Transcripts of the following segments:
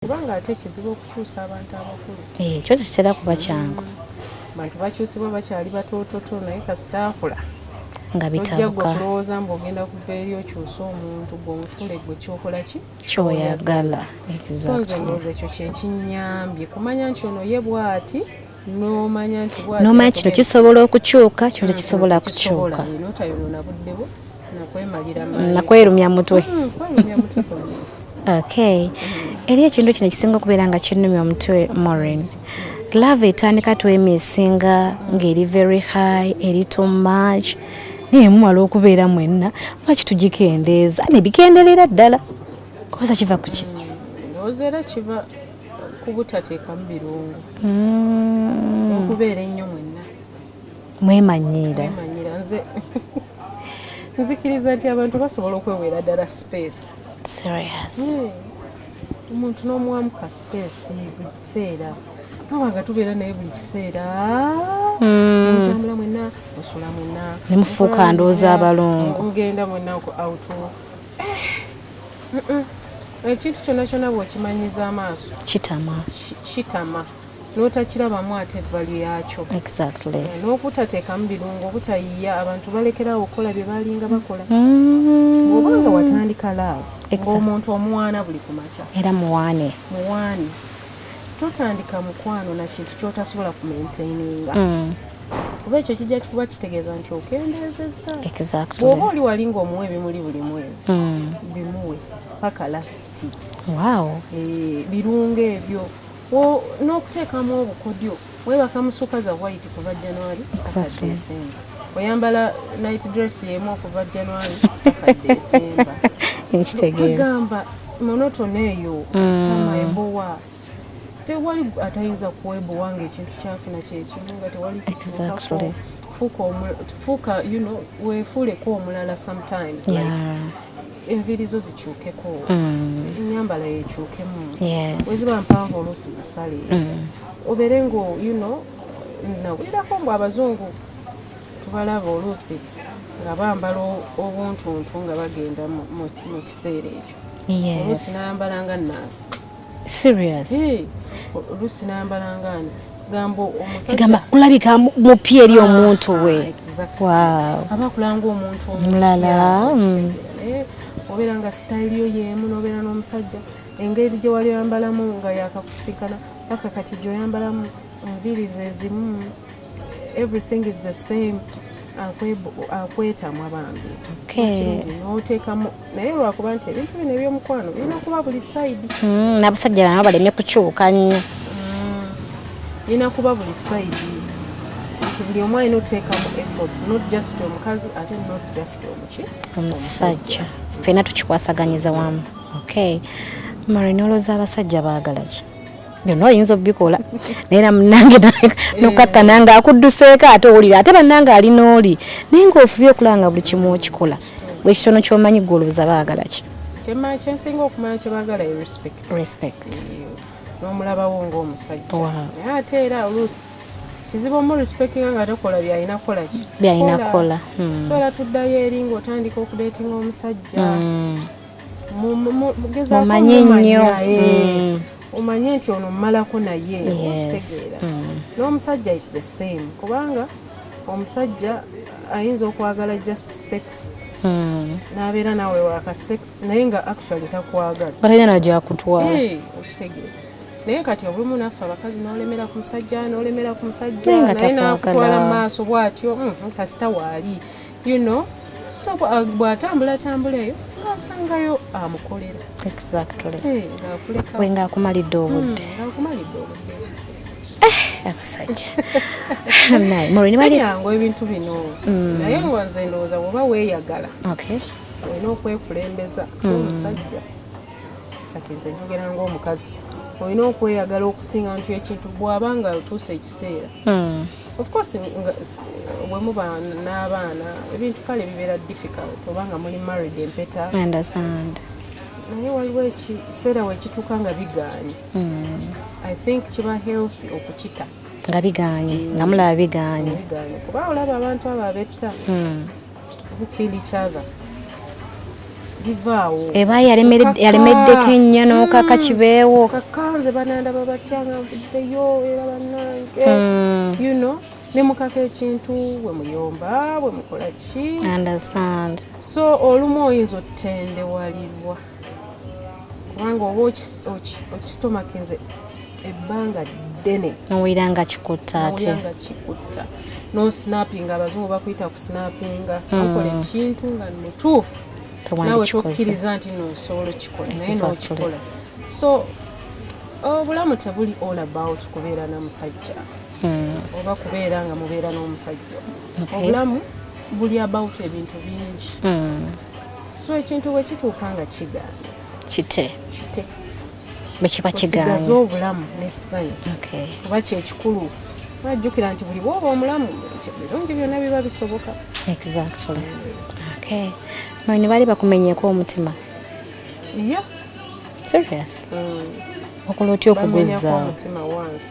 kubanga ate kizibu okukyusa abantu abakulu ekyo eh, kitera kuba kyangu bantu bakyusibwa bakyali batoototo naye kasita akula nga bitabuka kulowooza mbu ogenda kuva eri okyusa omuntu gwomufule gwe kyokola ki kyoyagala so nze ndowooza ekyo kyekinyambye kumanya nti ono ye bwati n'omanya kino kisobola okukyuka kino tekisobola kukyuka nakwerumya mutwe hmm, okay eri ekintu kino ekisinga okubeera nga kinumya omutwe morin love etandika twemisinga ng'eri very high eri too much naye mumala okubeera mwenna lwaki tugikendeeza nebikenderera ddala kubuza kiva kuki hmm, kubutateekamu birungo mm. okubeera ennyo mwenna mwemanyiira nze nzikiriza nti abantu basobola okwewera ddala space serious hmm. omuntu n'omuwamu ka space buli kiseera noba nga tubeera naye buli kiseera mutambula hmm. mwena osula mwena nemufuuka ndooza abalongo ogenda mwena out ekintu kyona kyona bwokimanyiza amaaso kitama kitama notakirabamu ate ebbali yakyo eh, n'okutateekamu birungo obutayiya abantu balekerawo okukola bye balinga bakola mm. oba nga watandika laawo ngaomuntu omuwaana buli kumakya era muwaane muwaane totandika mukwano na kintu kyotasobola ku maintaininga mm. kuba ekyo kijja kuba kitegeeza nti okendeezezza bwoba oli wali ngaomuwa ebimuli buli mwezi mm. bimuwe paka lasiti eh, birungo ebyo n'okuteekamu obukodyo Webaka musuka za white kuva January exactly. December. Oyambala night dress yemu kuva January December. Nkitegeera. Kugamba monotone eyo mm. tama ebowa. Tewali atayinza kuwebowa nga ekintu kyafuna kyekimu nga tewali exactly. Fuka, fuka you know, wefuuleko omulala sometimes yeah. like, enviiri zo zikyukeko mm. enyambala yekyukemu weziba mpanvu oluusi zisale mm. obeere nga you know nawulirako mbu abazungu tubalaba oluusi nga bambala obuntuntu nga bagenda mu kiseera ekyo oluusi nayambala nga naasi serious eh lusi nambala ngani gambo omusajja gamba kulabika mupi eri ah, omuntu we ah, exactly. wow aba kulanga omuntu omulala mm. eh, obera nga style yo yemu nobera no musajja engeri gye wali oyambalamu nga yakakusikana paka kati gyoyambalamu enviri zezimu everything is the same akwetamwa bambi notekamu naye lwakuba nti ebintu bino ebyomukwano birina kuba buli saidi hmm, nabasajja bana balemye kukyuka nnyo hmm, birina kuba buli saidi nti buli omu alina otekamu effort not just omukazi ate not just omuki omusajja fena tukikwasaganyiza wamu okay mari noloza abasajja baagala ki byonna oyinza obikola naye namunange nokakkana nga akudduseeko ate owulira ate bannange ali n'oli naye nga ofubye okulaba nga buli kimu okikola bwekitono kyomanyi gwe olowooza baagala ki kyensinga okumanya kyebagala respect n'omulabawo ngaomusajja naye ate era oluusi kizibu omu respectinga nga takola byalina kukola ki byalina kukola hmm. so era tuddayo eri ngaotandika okudeetinga omusajja hmm. mumanyi nnyo eh. hmm. omanye nti ono mmalako naye okitegeera mm. n'omusajja is the same kubanga omusajja ayinza okwagala just sex mm. n'abeera naawe waka sex naye nga actually takwagala balina nagyakutwala okitegeera naye kati olumu naffe abakazi nolemera ku musajja nolemera ku musajja naye nakutwala mu maaso bwatyo mm, kasita waali you know so uh, bwatambula tambula eyo ngasangayo amukolera exactly eh, we nga akumalidde obudde hmm, eh, abasajja nayeyangu ebintu bino hmm. naye nga nze ndowooza woba weyagala olina okwekulembeza si hmm. omusajja kati nze njogera ngaomukazi olina okweyagala okusinga nti ekintu bwaba nga otuusa ekiseera Of course wemuba n'abaana ebintu kale bibeera difficult oba nga muli married empeta understand naye waliwo ekiseera wekituuka nga bigaanye hmm. i think kiba healthy okukita nga bigaanye nga mulaba bigaanye kuba olaba abantu abo abetta hmm. eba yalemeddeko ennyo nokaka kibeewo kakanze banandaba batyanga mvuddeyo era banange hmm. you know ne mukaka ekintu bwe muyomba bwe mukola ki understand so olumu oyinza otendewalirwa kubanga oba okisitomakinze ebbanga ddene nowulira nga kikutta ate nga kikutta no snappinga abazungu bakuyita ku snappinga hmm. okola ekintu nga mutuufu nawe tokkiriza nti no osobola okikola naye nokikola so obulamu tebuli all about kubeera na musajja hmm. oba kubeera nga mubeera n'omusajja obulamu buli about ebintu bingi hmm. so ekintu bwe kituuka nga kigaana kite kite bwe kiba kigaana osigaza obulamu n'essanyu okay. kuba kyekikulu ajjukira nti buli bwoba omulamu birungi byonna biba bisoboka exactly okay. no ne bali bakumenyeeko omutima yeah. serious mm. okola otya okuguzza omutima once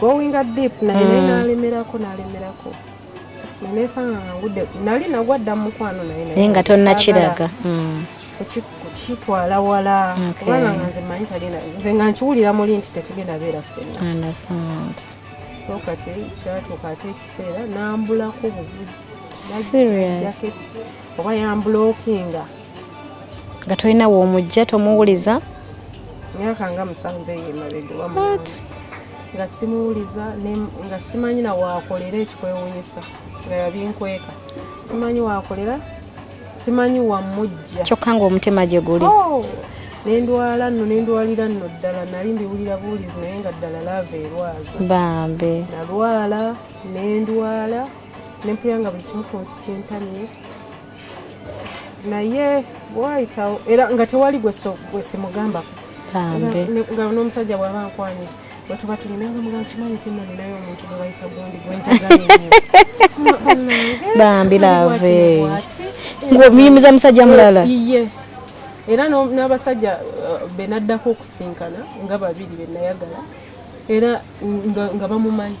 gowinga deep naye naye mm. nalemerako nalemerako nenesanga nga ngudde nali nagwa dda mumukwano naye naye nga tonnakiraga mm. kukitwala wala kubanga nga nze manyi tagenda nze nga nkiwulira muli nti tetugenda beera ffenna so kati kyatuuka ate ekiseera nambulako obuvuzi oba yambulokinga nga tolina womujja tomuwuliza myaka nga musanvu eyo emabega nga simuwuliza nga simanyi na wakolera ekikwewunyisa nga yabinkweka simanyi wakolera simanyi wamujja kyokka nga omutima gye guli oh! nendwala nno nendwalira nno ddala nali mbiwulira buwulizi naye nga ddala laava erwaza bambe nalwala nendwala nempulira nga buli kimu ku nsi kintamye naye bwayitawo era nga tewali gwesimugambako nga n'omusajja bwaba nkwanye wetuba tulina nga muga kimanyi ti nalinayo omuntu gwe bayita gundi gwenjagabambi lave ngomuyimiza musajja mulala iye era n'abasajja uh, benaddako okusinkana nga babiri benayagala era nga bamumanyi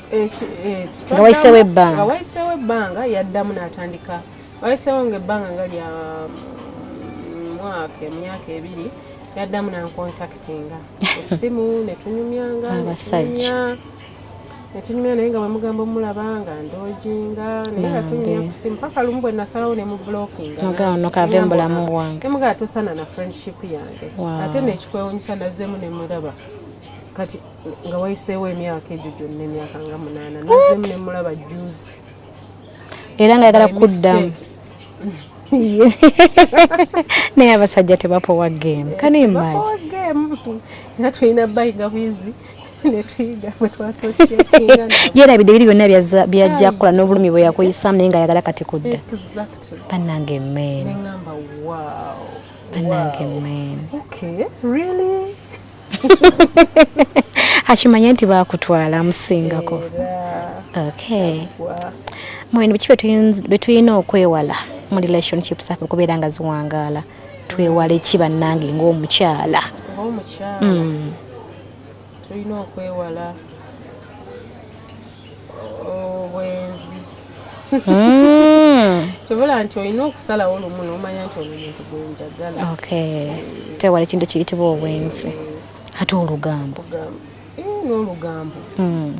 nga wayiseewo ebbanga nga wayiseewo ebbanga yaddamu n'atandika wayiseewo nga ebbanga nga lya mm, mwaka emyaka ebiri yaddamu nankontaktinga essimu netunyumyanga abasajja netunyumya naye nga bwemugamba omulaba nga ndojinga naye nga tunyumya kusimu paka lumu bwe nasalawo ne mu blockingaono kave mubulamu bwange emugaa tosana na friendship yange ate nekikwewunyisa nazemu nemulaba kati nga wayiseewo emyaka egyo gyonna emyaka nga munaana nazemu nemulaba juzi era nga yagala kuddamu naye abasajja tebapowa game kani imaji era tulina bayiga bwizi yerabidde biri byonna byajja kukola n'obulumi bwe yakuyisamu naye nga yagala kati kudda banange men banange men akimanye nti bakutwala amusingako okay mwene biki betulina okwewala mu relationship zaffe okubeera nga ziwangaala twewala eki bannange ngaomukyala mm. tulina okwewala obwenzi hmm. kibula nti olina okusalawo lumu nomanya nti omuntu gwenjagala tewali kintu kiyitibwa obwenzi ate olugambo eh, n'olugambo hmm.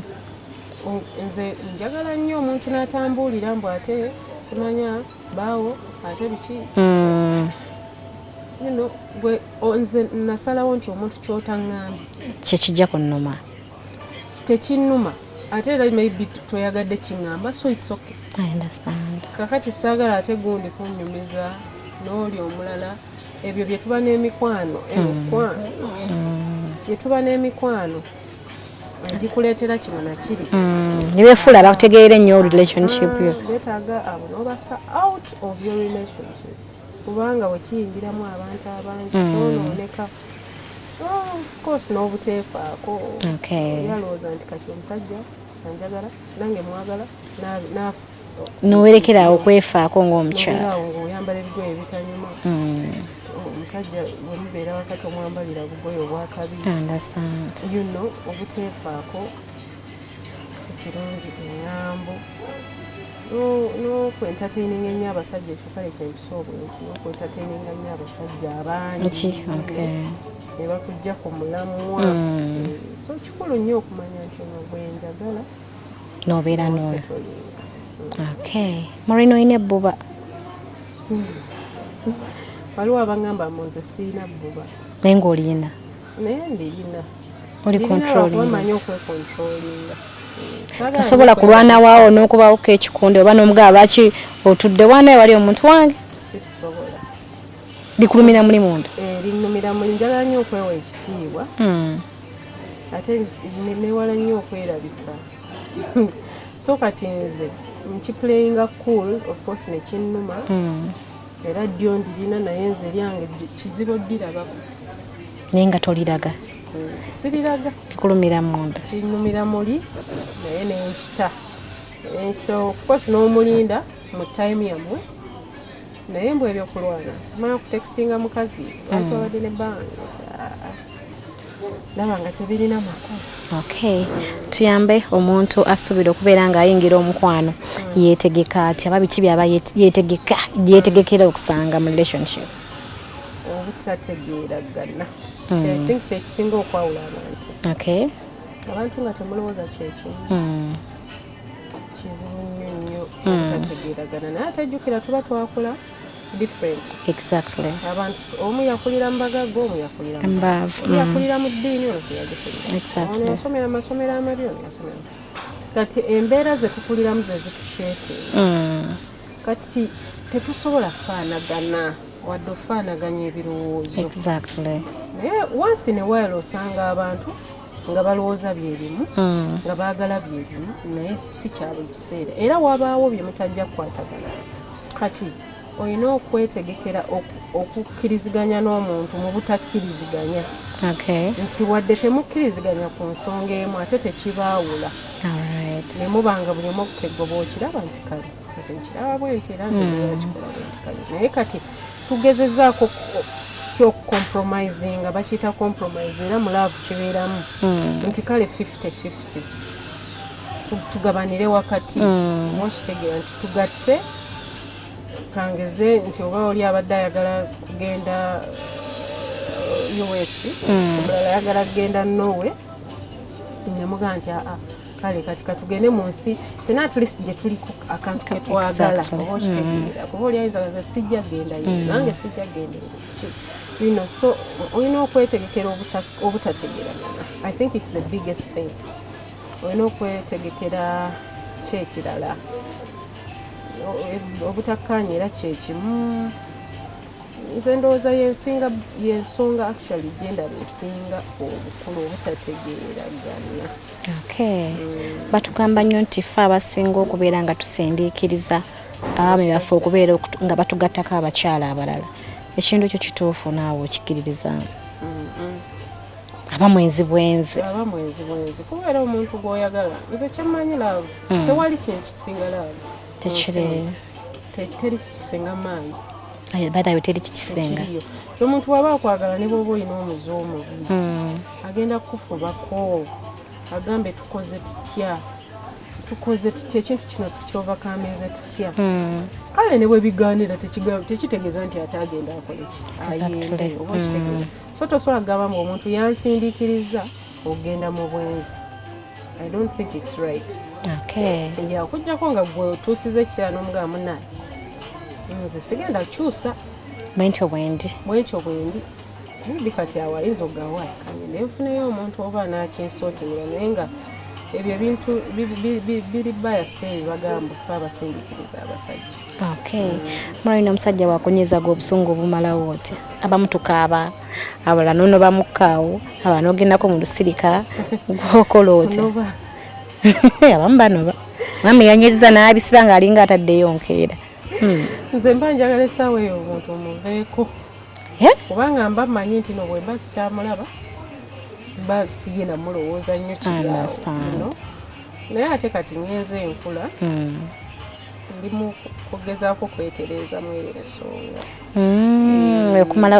nze njagala nnyo omuntu n'atambuulira mbu ate kimanya baawo ate biki hmm. nze nasalawo nti omuntu kyotaŋŋambye kyekijja ku nnuma tekinuma ate era maybe toyagadde kingamba so its okay kakati saagala ate gundi kunyumiza n'oli omulala ebyo byetuba n'emikwano emikwano byetuba mm. n'emikwano agikuleetera kino nakiri mm. nebefuula bakutegeere nnyo relationship yo ah, betaaga abo nobasa out of your relationship kubanga bwe kiyingiramu abantu abangi mm. kyonooneka ofcourse n'obuteefaako yalowooza nti kati omusajja anjagala nange mwagala naafa nowerekera awo kwefaako ngaomukyalaawo ngaoyambala ebigoye ebitanyuma mm. omusajja wemubeera wakati omwambalira bugoye obwakabi you know obuteefaako sikirungi engambo nokwentataininga ennyo abasajja ekyo kale kyempisa obwenzi nokwentataininga nnyo abasajja abangi nebakujja ku mulamwa mm. eh, so kikulu nnyo okumanya nti ono gwenjagala nobeera no okay marina olina ebbuba hmm. waliwo abangamba munze siina bbuba naye ngaolina naye ndiyina oli controlling osobola kulwana waawo n'okubawo kekikundi oba n'omugaba lwaki otudde waana ewali omuntu wange likulumira muli munda eh, linumira muli njagala nnyo okwewa ekitiibwa hmm. ate newala nnyo okwerabisa so kati nze nkiplayinga cool of course nekinnuma hmm. Era ddyo ndirina naye nze eryange kizibu oddirabako. Naye nga toliraga? Siriraga. Kikulumira munda? Kinnumira muli naye nenkita nenkita okukosi n'omulinda mu time yammwe naye mbwa ebyokulwana simala kutextinga mukazi lwaki mm. wabadde ne banga laba nga tebirina makulu okay tuyambe omuntu asuubira okubeera ng'ayingira omukwano yeetegeka atya aba biki byaba yeetegeka yeetegekera okusanga mu relationship obutategeera gana hmm. think kyekisinga okwawula abantu okay abantu nga temulowooza kyekimu hmm. kizibu nnyo nnyo hmm. obutategeeragana naye atajjukira tuba twakula mm. different exactly abantu omu yakulira mbagaga omu yakulira mbavu mm. yakulira mu ddiini ono teyagikulira exactly ono yasomera amasomero amabi ono yasomera kati embeera zetukuliramu zezitusheeke mm. kati tetusobola kufaanagana wadde ofaanaganya ebirowoozo exactly naye wansi ne waala osanga abantu nga balowooza byerimu hmm. nga baagala byerimu naye si kyabwe kiseera era wabaawo bye mutajja kukwatagana kati olina okwetegekera okukkiriziganya n'omuntu mu butakkiriziganya nti wadde temukkiriziganya ku nsonga emu ate tekibaawula nemuba nga buli omu okukeggoba okiraba nti kale nze nkiraba bwenti era nze hmm. kikola bwenti kale naye kati tugezezaako ki okucompromisinga bakiyita compromise era mu laavu kibeeramu hmm. nti kale 5050 tugabanire wakati hmm. okitegeera nti tugatte kangeze nti oba oli abadde ayagala kugenda uh, us hmm. omulala ayagala kugenda norway nemugaa nti aa ah, ah. kale kati katugende mu nsi fena atleast gye tuliko akantu ke twagala oba okitegeera mm. kuba oli ayinza gaza sijja genda ye mm. nange sijja genda bino so olina okwetegekera obutategeragana i think its the biggest thing olina okwetegekera kyekirala obutakkaanya era kyekimu nze ndowooza yensinga yensonga actually gyendaba esinga obukulu obutategeeragana Okay. Mm. Batugamba nnyo nti ffe abasinga okubeera nga tusindiikiriza abaami baffe okubeera nga batugattako abakyala abalala ekintu ekyo kituufu naawe okikiririzaamu aba mwenzi bwenzi aba mwenzi bwenzi kubeera omuntu gwoyagala nze kyemmanyi laavu mm. tewali kintu kisinga laavu tekiri teri kisinga maanyi Eh, bathawe teri kikisinga omuntu waba akwagala ne bwoba olina omuzi omubi hmm. agenda kukufubako agambe tukoze tutya tukoze tutya ekintu kino tukyovakaminze tutya hmm. kale ne bwebigaanira tekitegeeza nti ate agenda akoleki ayende oba okitegeeza hmm. so tosobola kugamba mbu omuntu yansindiikiriza ogenda mu bwenzi i don't think it's right okay ya kujjako nga gwe otuusiza ekiseera n'omugaba munaye nze sigenda kukyusa bwentyo bwendi bwentyo bwendi maybe kati awo ayinza okugawa kanye naye nfuneyo omuntu oba nakinsootimira naye nga ebyo ebintu biri bayasiteri bagamba fe abasindikiriza abasajja Okay. Mulali na musajja wakunyizaga obusungu obumala wote. Abamu tukaaba. Abala nono bamukkaawo. Abana ogendako mu lusirika. Gwokola otya. Abamu banoba. Mama yanyiriza n'abisiba ng'alinga ataddeyo nkeera. Hmm. Nze mba njagala essaawa eyo omuntu omuveeko. Eh? Kubanga mba mmanyi nti no bwemba sikyamulaba mba siye namulowooza nnyo kiryawo. Naye ate kati ngenze enkula. Hmm. ndi mu kugezaako kwetereeza mu eyo ensonga mm, okumala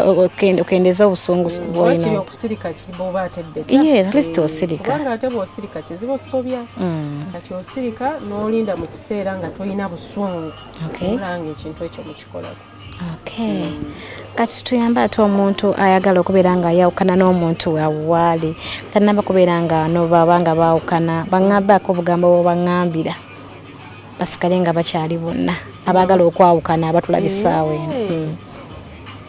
okendeeza obusungu bwolina okusirika bwoba atebbetaatleast osirika kubanga ate bwosirika kizibu osobya mm. kati osirika n'olinda mu kiseera nga tolina busungu olanga ekintu ekyo mukikolako Okay. Kati tuyamba ate omuntu ayagala okubeera nga ayawukana n'omuntu wawaali tanaba kubeera nga nobaba nga baawukana baŋambaako obugambo bwebaŋambira basigale nga bakyali bonna abaagala okwawukana abatulaba essaawa eno. Hmm.